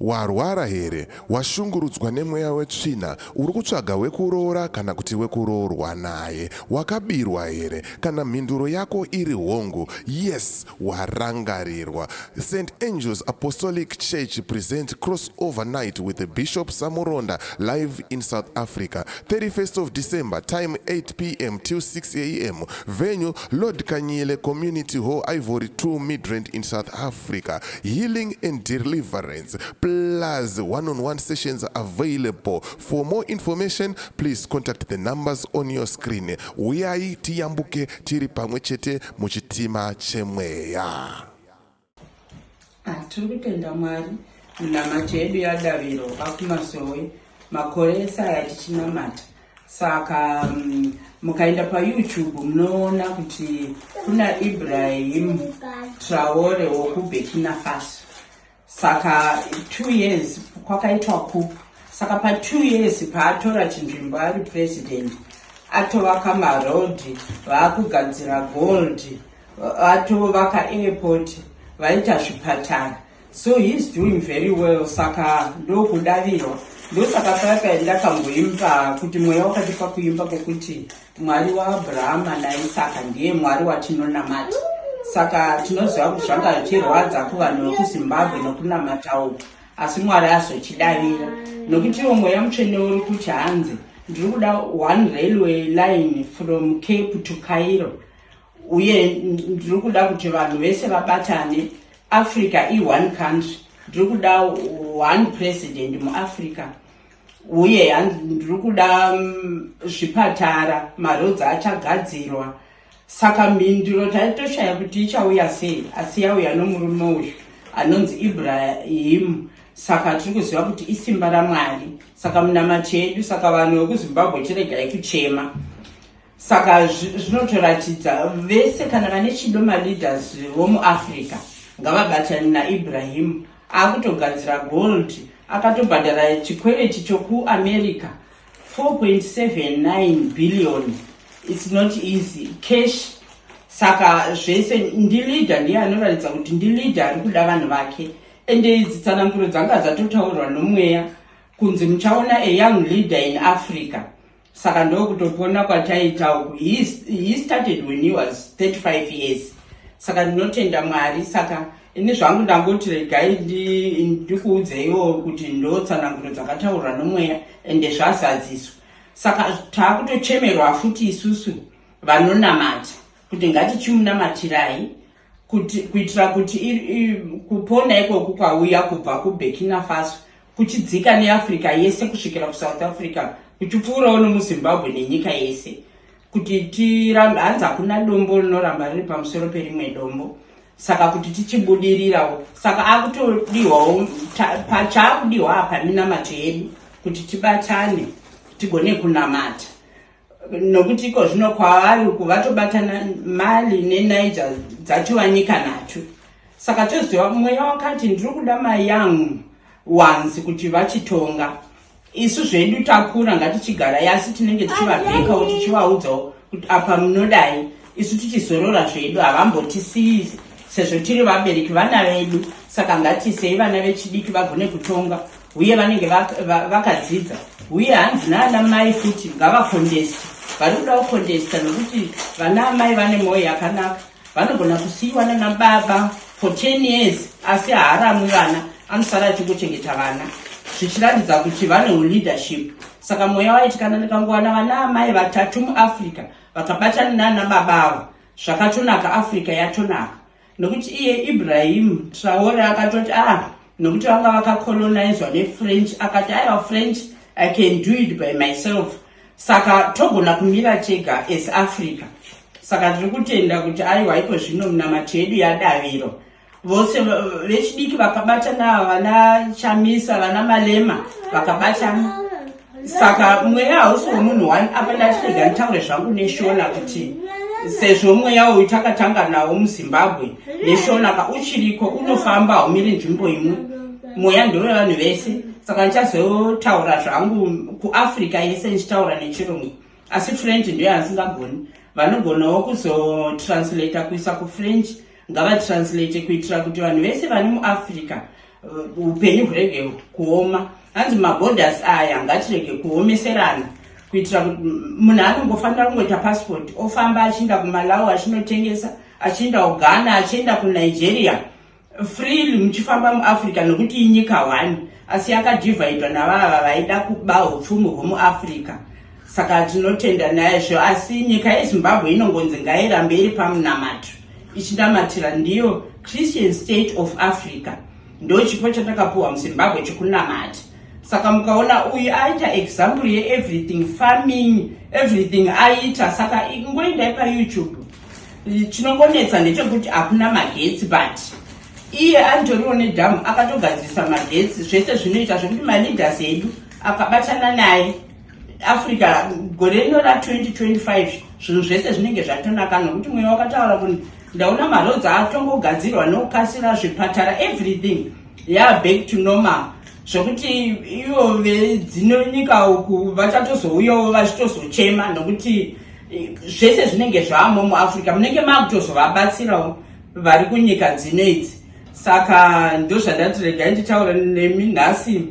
warwara here washungurudzwa nemweya wetsvina uri kutsvaga wekuroora kana kuti wekuroorwa naye wakabirwa here Kana mhinduro yako iri hongu, yes, warangarirwa. St Angels Apostolic Church presents Crossover Night with the Bishop Samuronda live in South Africa, 31st of December, time 8 p.m. till 6 a.m. Venue Lord Kanyile Community Hall, Ivory 2 Midrand in South Africa. Healing and deliverance plus one-on-one sessions available For more information please contact the numbers on your screen. Huyai tiyambuke tiri pamwe chete muchitima chemweya. Ah, tiri kutenda Mwari minamato yedu yadaviro vakumasowe makore ese aya tichinamata saka um, mukaenda payoutube munoona kuti kuna ibrahim traore wokubekina faso saka two years kwakaitwa ku saka pa two years paatora chinzvimbo ari president atovaka maroad vaakugadzira gold atovaka airport vaita zvipatara so heis doing very well saka ndokudavirwa ndosaka paya paya ndakamboimba kuti mweya wakati pakuimba kwekuti Mwari waAbrahama naIsaka ndiye Mwari watinonamata. Saka tinoziva kuti zvanga zvichirwadza kuvanhu vekuZimbabwe nokunamata uku, asi Mwari azochidavira nokuti iwo mweya mutsvene uri kuti hanzi ndiri kuda one railway line from Cape to Cairo uye ndiri kuda kuti vanhu vese vabatane. Africa i one country, ndiri kuda one president muAfrica. uye ndiri kuda mm, zvipatara marodzi achagadzirwa saka mhinduro taitoshaya kuti ichauya sei asi yauya nomurume uyu anonzi ibrahimu saka tiri kuziva kuti isimba ramwari saka munamati yedu saka vanhu vekuzimbabwe chiregai kuchema saka zvinotoratidza vese kana vane chido maleaders vomuafrica ngavabatane naibrahim akutogadzira gold akatobhadhara chikwereti chokuamerica 4.79 billion its not easy cash saka zvese ndileader ndiye anoratidza kuti ndileader ari kuda vanhu vake ende idzi tsananguro dzanga dzatotaurwa nomweya kunzi muchaona ayoung leader in africa saka ndokutopona kwataita uku he, he started when he was 35 years saka ndinotenda mwari saka ini zvangu ndangoti regai ndikuudzeiwo kuti ndotsananguro dzakataurwa nomweya ende zvazadziswa saka taakutochemerwa futi isusu vanonamata kuti ngatichimunamatirai kuti kuitira kuti kupona ikoko kwauya kubva kuburkina faso kuchidzika neafrica yese kusvikira kusouth africa kuchipfuurawo nomuzimbabwe nenyika yese kuti tirambe hanzi hakuna dombo rinoramba riri pamusoro perimwe dombo saka kuti tichibudirirawo saka akutodiwawo pachaakudiwa apa minamato yedu kuti tibatane tigone kunamata nokuti iko zvino kwavari uku vatobatana mali nenaija dzatova nyika nhatu saka toziva mweya wakati ndiri kuda mai yangu wanzi kuti vachitonga isu zvedu takura ngatichigara yasi tinenge tichivabhekawo tichivaudzawo kuti apa munodai isu tichizorora zvedu havambotisiyi sezvo tiri vabereki vana vedu saka ngatisei vana vechidiki vagone kutonga uye vanenge vakadzidza va, va uye hanzi naana mai kuti ngavakondesta vari kuda kukondesta nokuti vana amai vane mwoyo yakanaka vanogona kusiyiwa nana baba for ten years asi haaramwi vana anosara achingochengeta vana zvichiratidza kuti vane uleadership saka mweya waitikana ndikangowana vana amai vatatu muafrica vakabatana nana baba ava zvakatonaka africa yatonaka nokuti iye ibrahim traore akatoti a ah, nokuti vanga vakacolonizwa nefrench akati aiwa french i can do it by myself saka togona kumira tega as africa saka tiri kutenda kuti aiwa iko zvino munamato yedu yadaviro vose vechidiki vakabatana vana chamisa vana malema vakabatana saka mweya hausi wemunhu one apa ndatirega nditaure zvangu neshona kuti sezvo mweya uyu takatanga nawo muzimbabwe neshona ka uchiriko unofamba haumiri nzvimbo imwe mweya ndove vanhu vese saka ndichazotaura zvangu kuafrica yese ndichitaura nechirungu asi french ndiyo yansingagoni vanogonawo kuzotranslata kuisa kufrench ngavatranslate kuitira kuti vanhu vese vani muafrica uh, upenyu hurege kuoma hanzi maborders aya ngatirege kuomeserana kuitira kuti munhu anongofanira kungoita passport ofamba achiinda kumalawi achinotengesa achiinda kughana achienda kunigeria freely muchifamba muafrica nokuti inyika one asi yakadhivhaidwa navava vaida kuba upfumi hwemuafrica saka tinotenda naizvo asi nyika yezimbabwe inongonzi ngairambe iri pamunamato ichinamatira ndiyo christian state of africa ndo chipo chatakapuhwa muzimbabwe chekunamata saka mukaona uyu aita example yeeverything farming everything aita saka ingoendai payoutube chinongonetsa ndechekuti hakuna magetsi but iye anjoriwo nedhamu akatogadzirisa magetsi zvese zvinoita zvekuti maleaders edu akabatana naye africa gore rino ra 2025 zvinhu zvese zvinenge zvatonaka nokuti mweya wakataura kuti ndaona maroads atongogadzirwa nokukasira zvipatara everything yaa back to normal zvekuti ivo vedzino nyika uku vachatozouyawo vachitozochema nokuti eh, zvese zvinenge zvaamo muafrica munenge maakutozovabatsirawo vari kunyika dzino idzi saka ndozvandati regai nditaura nemi nhasi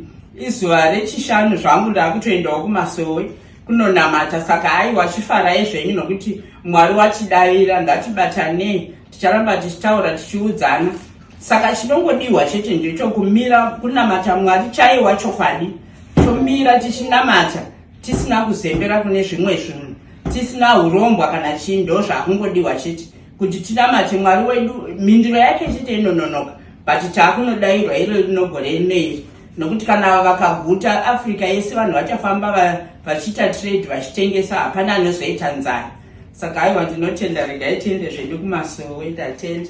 izuva rechishanu zvangu ndaakutoendawo kumasowe kunonamata saka aiwa chifarai zvenyu nokuti mwari watidavira ngatibatanei ticharamba tichitaura tichiudzana saka chinongodiwa chete ndechokumira kunamata mwari chaiwa chokwadi tomira tichinamata tisina kuzembera kune zvimwe zvinhu tisina urombwa kana chii ndozvakungodiwa chete kuti tinamate mwari wedu mhinduro yake chete inononoka but taakunodairwa iro rinogore neiri nokuti kana vakaguta africa yese vanhu vachafamba vachiita trade vachitengesa hapana anozoita nzara saka aiwa ndinotenda regai tiende zvedu kumasowe tatenda